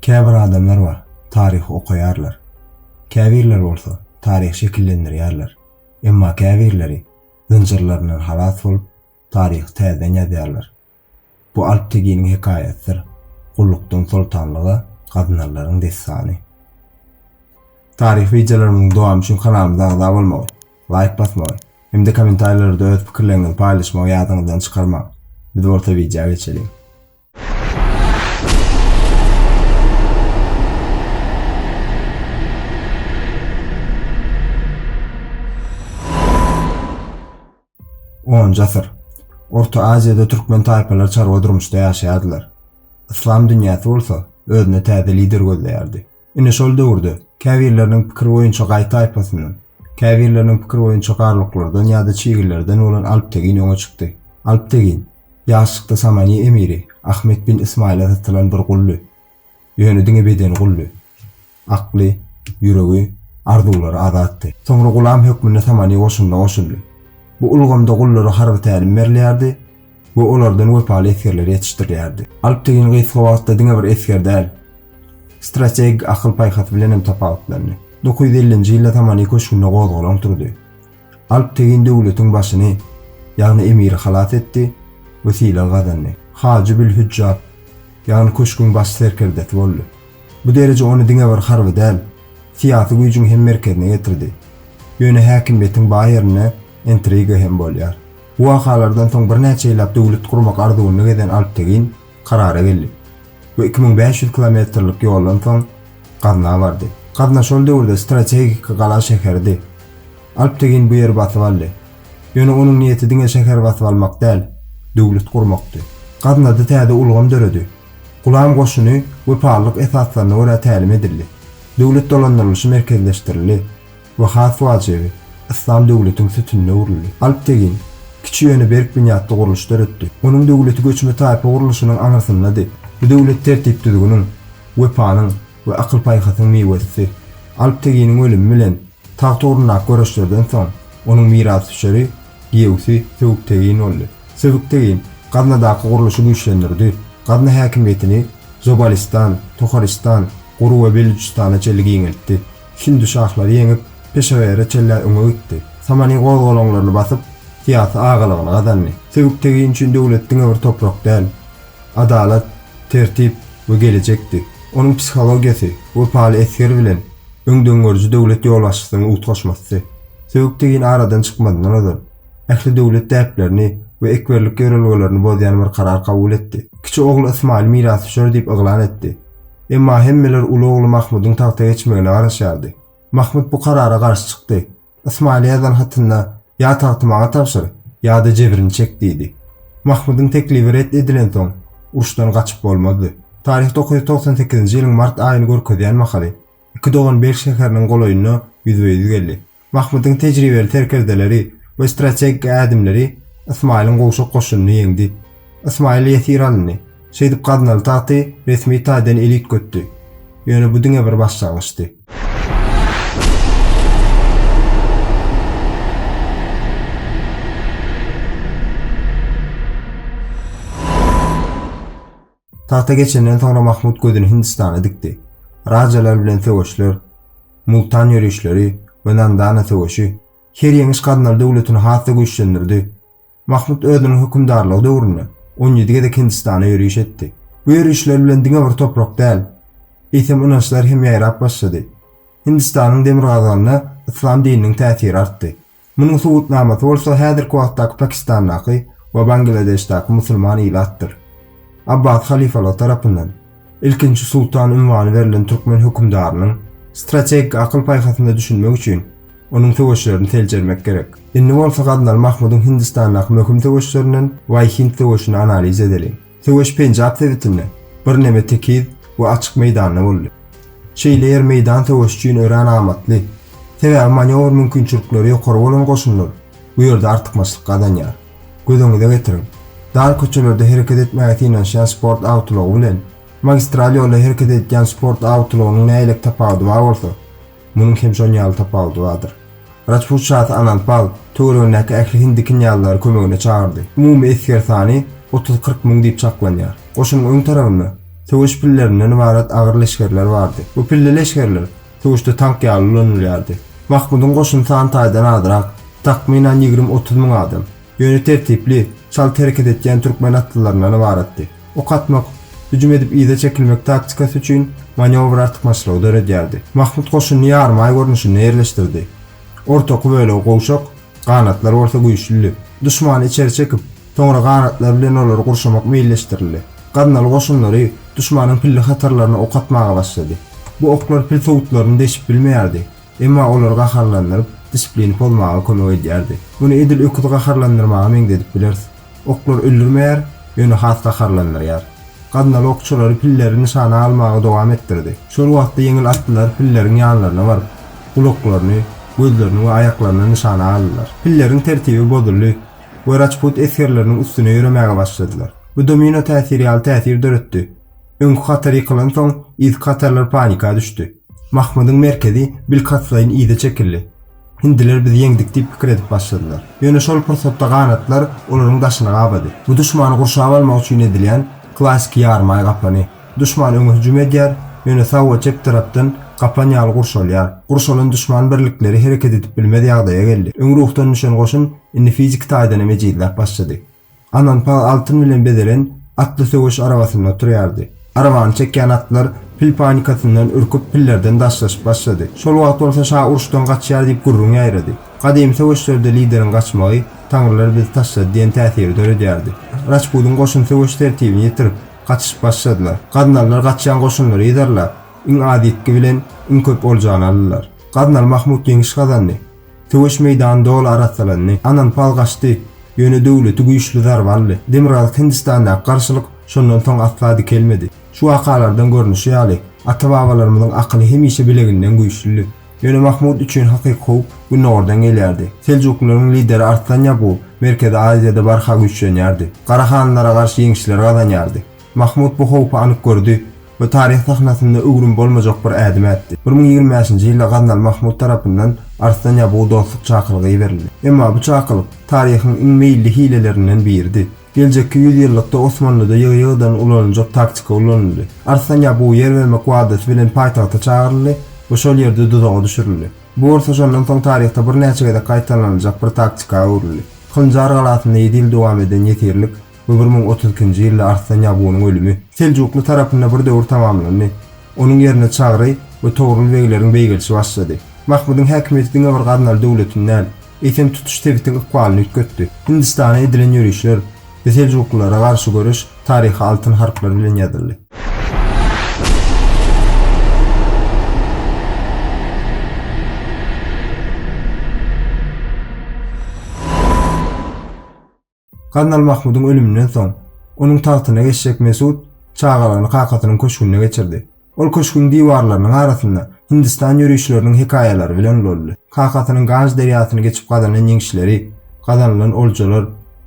Käbir adamlar bar, taryhy okaýarlar. Käbirleri bolsa, taryhy şekillendirýärler. Emma käbirleri zynjyrlaryndan halas bolup, taryhy täzeden ýazýarlar. Bu Alp Teginiň hekaýasydyr, gullukdan soltanlyga gaznanlaryň dessany. Taryhy wideolarymyzyň dowamy üçin kanalymyza agza bolmagy, laýk basmagy hem-de kommentariýalarda öz pikirleriňizi paýlaşmagy ýadyňyzdan çykarmaň. Biz bolsa wideo geçeliň. Onunjy asyr. Orta Aziýada türkmen taýpalary çarwa durmuşda ýaşaýardylar. Yslam dünýäsi bolsa özüne täze lider gözleýärdi. Ine şol döwürde, käbirleriniň pikiri boýunça gaý taýpasyndan, käbirleriniň pikiri boýunça garluklardan ýa-da çigillerden bolan Alptegin öňe çykdy. Alptegin, ýaşlykda Samaniýa emiri Ahmet bin Ysmaýyla satylan bir guldy. Ýöne diňe bedeni guldy. Akly, ýüregi, arzuwlary azatdy. Soňra gulam hökmünde Samaniýa goşunyna goşuldy. Bu ulgamda gullara harby tälim berilýärdi. we olardan wepaly esgerleri ýetişdirýärdi. Alp Tegin gysga wagtda diňe bir esger däl, strategik akyl-paýhas bilen hem tapawutlandy. Dokuz ýüz ellinji ýylda Tamany köşgünde gozgalaň turdy. Alp Tegin döwletiň başyny, ýagny emiri halas etdi we sylag gazandy. Hajy bil Hüjjat, ýagny köşgüň baş serkerdesi boldy. Bu dereje ony diňe bir harby däl, syýasy güýjüň hem merkezine getirdi. Ýöne häkimiýetiň baý ýerinde intriga hem bolýar. Bu wakalardan soň birnäçe ýyllap döwlet gurmak arzuwynda gezen Alptegin karara geldi we iki müň bäş ýüz kilometrlik ýoldan soň Gazna bardy. Gazna şol döwürde strategik gala şäheridi. Alptegin bu ýeri basyp aldy. Ýöne onuň niýeti diňe şäher basyp almak däl, döwlet gurmakdy. Gaznada täze ulgam döredi. Gulam goşuny wepalylyk esaslaryna görä tälim edildi. Döwlet dolandyrylyşy merkezleşdirildi. we has wajibi, yslam döwletiň sütünine öwrüldi. Alp Tegin, kiçi ýöne berk binýatly gurluş döretdi. Onuň döwleti göçme taýpa gurluşynyň aňyrsyndady. Bu döwlet tertip-düzgüniň, wepanyň we akyl-paýhasyň miwesidi. Alp Teginiň ölümi bilen tagt ugrundaky göreşlerden soň, onuň mirasdüşeri, giýewsi Söbük Tegin boldy. Söbük Tegin Gaznadaky gurluşy güýçlendirdi, Gazna häkimiýetini Zobalistdan, Toharistan, Guru we Belujistana çenli giňeltdi. Hindi şahlary ýeňip, Peşawere çenlä öňe gitdi. Samany gozgalaňlaryny basyp, syýasy agalygyny gazandy. Sebit-tegin üçin döwlet diňe bir toprak däl, adalat, tertip we gelejekdi. Onuň psihologiýasy wepaly esger bilen öňdengörüji döwlet ýolbaşçysynyň utgaşmasdy. Sebit-tegin aradan çykmazyndan ozal, ähli döwlet däplerini we ekberlik ýörelgelerini bozýan bir karar kabul etdi. Kiçi ogly Ysmaýyl mirasdüşer diýip yglan etdi. Emma hemmeler uly ogly Mahmudyň tagta geçmegine garaşýardy. Mahmut bu karara garşy çykdy. Ysmaýyla ýazan hatynda ýa tagty maňa tabşyr, ýa-da jebrini çek diýdi. Mahmudyň teklibi ret edilensoň, uruşdan gaçyp bolmazdy. Taryh dokuz ýüz togsan sekizinji ýylyň mart aýyny görkezýän mahaly, iki dogan Belh şäheriniň golaýyna ýüzbe-ýüz geldi. Mahmudyň tejribeli serkerdeleri we strategik ädimleri Ysmaýylyň gowşak goşunyny ýeňdi. Ysmaýyl ýesir alyndy. Şeýdip gaznaly tagty resmi taýdan el üýtgetdi. Ýöne bu diňe bir başlangyçdy. Tagta geçenden soňra Mahmud gözüni Hindistana dikdi. Rajalar bilen söweşler, Multan ýörişleri we Nandana söweşi her ýeňiş Gaznal döwletini has-da güýçlendirdi. Mahmud özüniň hökümdarlygy döwründe on ýedi gezek Hindistana ýöriş etdi. Bu ýörişler bilen diňe bir toprak däl, eýsem ynançlar hem ýaýrap başlady. Hindistanyň demirgazygynda yslam dininiň täsiri artdy. Munuň subutnamasy bolsa häzirki wagtdaky Pakistandaky we Bangladeşdäki musulman ilatdyr. Abbas halyfalary tarapyndan Ilkinji sultan unwany berlen türkmen hökümdarynyň strategik akyl-paýhasyna düşünmek üçin onuň söweşlerini seljermek gerek. Indi bolsa Gaznaly Mahmudyň Hindistandaky möhüm söweşlerinden Waý-Hind söweşini analiz edeliň. Söweş Penjap sebitinde birneme tekiz we açyk meýdanda boldy. Şeýle ýer meýdan söweşi üçin örän amatly, sebäbi manýowr mümkinçilikleri ýokary bolan goşunlar bu ýerde artykmaçlyk gazanýar. Göz öňüňize getiriň, dar köçelerde hereket etmäge synanyşýan sport awtoulagy bilen magistral ýolda hereket edýän sport awtoulagynyň nähili tapawudy bar bolsa, Munuň hem şonuň ýaly tapawudy bardyr. Rajput şasy Anandpal töweregindäki ähli hindi knýazlary kömegine çagyrdy. Umumy esger sany otuz-kyrk müň diýip çaklanýar. Goşunyň öň tarabynda söweş pillerinden ybarat agyr leşgerler bardy. Bu pilli leşgerler söweşde tank ýaly ulanylýardy. Mahmudyň goşuny san taýdan azrak, takmynan ýigrimi-otuz müň adam. Ýöne tertipli, çalt hereket etýän türkmen atlylaryndan ybaratdy. Ok atmak, hüjüm edip yza çekilmek taktikasy üçin manewr artykmaçlygy döredýärdi. Mahmut goşunyny ýarymaý görnüşinde ýerleşdirdi. Ortaky bölegi gowşak, ganatlar bolsa güýçlüdi. Duşmany içeri çekip, soňra ganatlar bilen olary gurşamak meýilleşdirildi. Gaznaly goşunlary duşmanyň pilli hatarlaryna ok atmaga başlady. Bu oklar pil sowutlaryny deşip bilmeýärdi. Emma olary gaharlandyryp, disiplini pozmaga kömek edýärdi. Muny edil öküzi gaharlandyrmaga meňzedip bileris. Oklar öldürmeýär, ýöne has gaharlandyrýar. Gaznaly okçulary pilleri nyşana almagy dowam etdirdi. Şol wagtda ýeňil atlylar pilleriň ýanlaryna baryp, gulaklaryny, gözlerini we aýaklaryny nyşana aldylar. Pilleriň tertibi bozuldy we Raçput esgerleriniň üstüne ýöremäge başladylar. Bu domino täsiri ýaly täsir döretdi. Öňki hatar ýykylansoň, yzky hatarlar panika düşdi. Mahmydyň merkezi bilkastlaýyn yza çekildi. Hindiler bizi ýeňdik diýip pikir edip başladylar. Ýöne şol pursatda ganatlar olaryň daşyny gabady. Bu duşmany gurşap almak üçin edilýän klassyky ýarymaý gaplany. Duşman öňe hüjüm edýär, ýöne sag we çep tarapdan gaplan ýaly gurşalýar. Gurşalan duşman birlikleri hereket edip bilmez ýagdaýa geldi. Öň ruhdan düşen goşun indi fiziki taýdan hem ejizläp başlady. Ananpal altyn bilen bezelen atly söweş arabasynda oturýardy. Arabany çekýän atlar pil panikasyndan ürküp, pillerden daşlaşyp başlady. Şol wagt bolsa şa uruşdan gaçýar diýip gürrüň ýaýrady. Gadymy söweşlerde lideriň gaçmagy Taňrylar bizi taşlady diýen täsiri döredýärdi. Rajpudyň goşun söweş tertibini ýitirip, gaçyşyp başladylar. Gaznalylar gaçýan goşunlary yzarlap, iň az ýitgi bilen iň köp oljanı aldylar. Gaznaly Mahmut ýeňiş gazandy. Söweş meýdany doly arassalandy. Ananpal gaçdy. Ýöne döwleti güýçli zarba aldy. Demirgazyk Hindistandaky garşylyk şondan soň asla dikelmedi. Şu wakalardan görnüşi ýaly, ata-babalarymyzyň akyly hemişe bileginden güýçlüdi. Ýöne Mahmut üçin hakyky howp gündogardan gelýärdi. Seljuklylaryň lideri Arslan Ýagup Merkezi Aziýada barha güýçlenýärdi. Gara hanlara garşy ýeňişler gazanýardy. Mahmut bu howpy anyk gördi we taryh sahnasynda öwrüm bolmajak bir ädim ätdi. Bir müň ýigrimi bäşinji ýylda Gaznaly Mahmut tarapyndan Arslan Ýabuga dostluk çakylygy iberildi. Emma bu çakylyk, taryhyň iň meýilli hilelerinden biridi. Geljekki ýüzýyllykda Osmanlyda ýygy-ýygydan ulanyljak taktika ulanyldy. Arslan Ýabu ýer bermek wadasy bilen paýtagta çagyryldy we şol ýerde duzaga düşürildi. Bu bolsa şondan soň taryhda birnäçe gezek gaýtalanyljak bir taktika öwrüldi. Hynjar galasynda ýedi ýyl dowam eden ýesirlik Bu bir müň otuz ikinji ýylda Arslan Ýabunyň ölümi Seljukly tarapynda bir döwür tamamlandy. Onuň ýerine Çagry we Togrul begleriň beýgelişi başlady. Mahmydyň häkimiýeti diňe bir Gaznaly döwletini däl, eýsem tutuş sebitiň ykbalyny üýtgetdi. Hindistana edilen ýörişler we seljuklylara garşy göreş taryha altyn harplar bilen ýazyldy. Gaznal Mahmudyň ölüminden soň, onuň tagtyna geçjek Mesut çagalygyny kakasynyň köşgünde geçirdi. Ol köşgüň diwarlarynyň arasynda Hindistan ýörişleriniň hekaýalary bilen ulaldy. Kakasynyň Ganj derýasyny geçip gazanan ýeňişleri, gazanylan oljalar,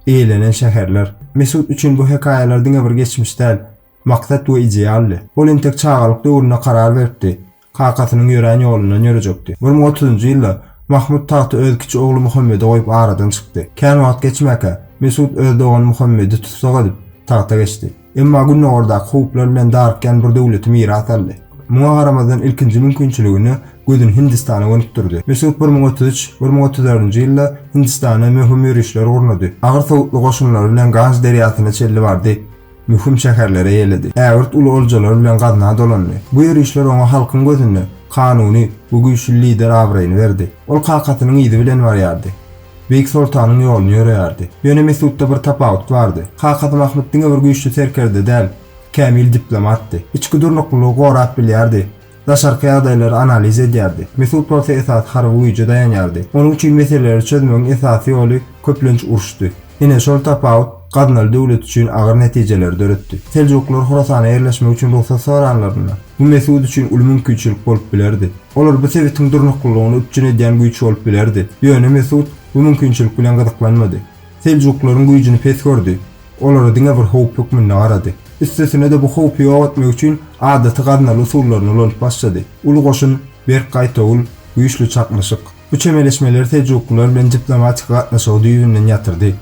eýelenen şäherler. Mesut üçin bu hekaýalar diňe bir geçmiş däl, maksat we idealdy. Ol entek çagalyk döwründe karar beripdi, kakasynyň ýörän ýolundan ýörejekdi. Bir müň otuzynjy ýylda Mahmyt tagty öz kiçi ogly Muhammede goýup aradan çykdy. Kän wagt geçmäkä, Mesut öz dogany Muhammedi tussag edip, tagta geçdi. Emma gündogardaky howplar bilen darykýan bir döwleti miras aldy. Muňa garamazdan ilkinji mümkinçiligine gözüni Hindistana gönükdirdi. Mesut bir müň otuz üç, bir müň otuz dördünji ýylda Hindistana möhüm ýörişler gurnady. Agyr sowutly goşunlary bilen Ganj derýasyna çenli bardy. Möhüm şäherlere ýeledi. Ägirt uly oljalar bilen gazna dolandy. Bu ýörişler oňa halkyň gözünde kanuny we güýçli lider abraýyny berdi. Ol kakasynyň yzy bilen barýardy. Beýik soltanyň ýoluny ýöreýärdi. Ýöne Mesutda bir tapawut bardy. Kakasy Mahmyt diňe bir güýçli serkerde däl, kämil diplomatdy. Içki durnuklylygy gorap bilýärdi. Daşarky ýagdaýlary analiz edýärdi. Mesut bolsa esasy harby güýje daýanýardy. Onuň üçin meseleleri çözmegiň esasy ýoly, köplenç uruşdy. Ine, şol tapawut Gaznaly döwlet üçin agyr netijeleri döretdi. Seljuklylar Horasana ýerleşmek üçin rugsat soranlarynda, bu Mesut üçin uly mümkinçilik bolup bilerdi. Olar bu sebitiň durnuklylygyny üpjün edýän güýç bolup bilerdi. Ýöne Mesut bu mümkinçilik bilen gyzyklanmady. Seljuklaryň güýjüni pes gördi. Olara diňe bir howp hökmünde garady. Üstesine-de bu howpy ýok etmek üçin adaty gaznaly usullaryny ulanyp başlady. Uly goşun, berk gaýtawul, güýçli çaknyşyk. Bu çemeleşmeler seljuklylar bilen diplomatik gatnaşygy düýbünden ýatyrdy.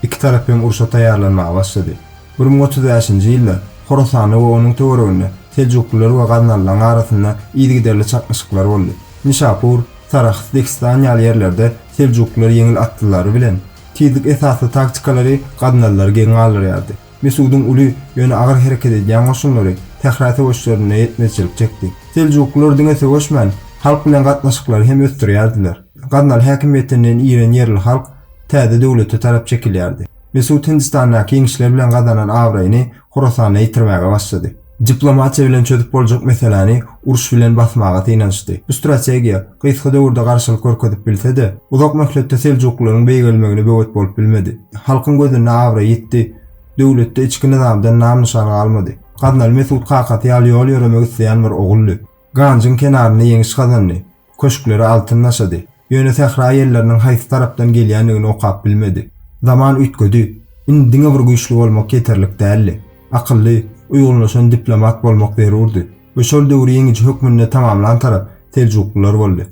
Iki tarap hem urşa taýýarlanmaga başlady. Bir müň otuz bäşinji ýylda Horasanda we onuň töwereginde seljuklylar we gaznalylaryň arasynda yzygiderli çaknyşyklar boldy. Nişapur, Sarahs, Dehistan ýaly ýerlerde seljuklylar ýeňil atlylary bilen, tizlik esasly taktikalary gaznalylary geň galdyrýardy. Mesudyň uly, ýöne agyr hereket edýän goşunlary sähra söweşlerinde ýetmezçilik çekdi. Seljuklylar diňe söweşmän, halk bilen gatnaşyklary hem ösdürýärdiler. Gaznaly häkimiýetinden iren ýerli halk täze döwlete tarap çekilýärdi. Mesut Hindistandaky ýeňişler bilen gazanan abraýyny Horasanda ýitirmäge başlady. Diplomatiýa bilen çözüp boljak meseläni uruş bilen basmaga synanyşdy. Bu strategiýa, gysga döwürde garşylyk görkezip bilse-de, uzak möhletde seljuklylaryň beýgelmegine böwet bolup bilmedi. Halkyň gözünde abraý ýitdi, döwletde içki nyzamdan nam-nyşan galmady. Gaznaly Mesut kakasy ýaly ýol ýöremek isleýän bir oguldy. Ganjyň kenarynda ýeňiş gazandy. Köşkleri altyn daşady. Ýöne sähra ýelleriniň haýsy tarapdan gelýändigini okap bilmedi. Zaman üýtgedi. Indi diňe bir güýçli bolmak ýeterlik däldi. Akylly, uýgunlaşan diplomat bolmak zerurdy. We şol döwri ýeňiji hökmünde tamamlan tarap seljuklylar boldy.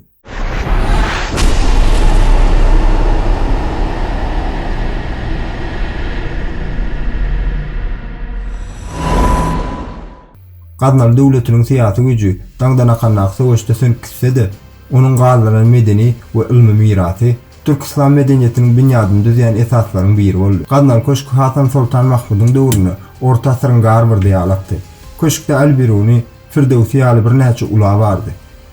Gaznaly döwletiniň syýasy güýji daňdan akandaky söweşde sönüp gitse-de, onuň galdyran medeni we ylmy mirasy türk-yslam medeniýetiniň binýadyny düzýän esaslaryň biri boldy. Gaznaly köşki Hasan Soltan Mahmudyň döwründe orta asyryň gar bir diýalakty. Köşkde Al-Biruny, Firdöwsi ýaly birnäçe ula bardy.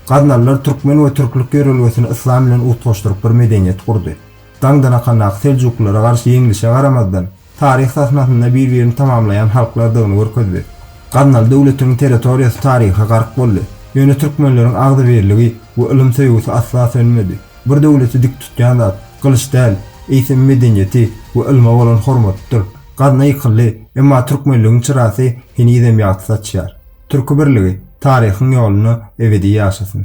Gaznalylar türkmen we türklük ýörelgesini yslam bilen utgaşdyryp bir medeniýet gurdy. Daňdan akandaky seljuklylara garşy ýeňlişe garamazdan, taryh sahnasynda bir-birini tamamlaýan halklardygyny görkezdi. Gaznaly döwletiň territoriýasy taryha gark boldy. Ýöne türkmenleriň agzybirligi we ylym söýgüsi asla sönmedi. Bir döwleti dik tutýan zat, gylyç däl, eýsem medeniýeti we ylma bolan hormatydyr. Gazna ýykyldy, emma türkmenligiň çyrasy henizem ýagty saçýar. Türki birligi taryhyň ýolunda ebedi ýaşasyn!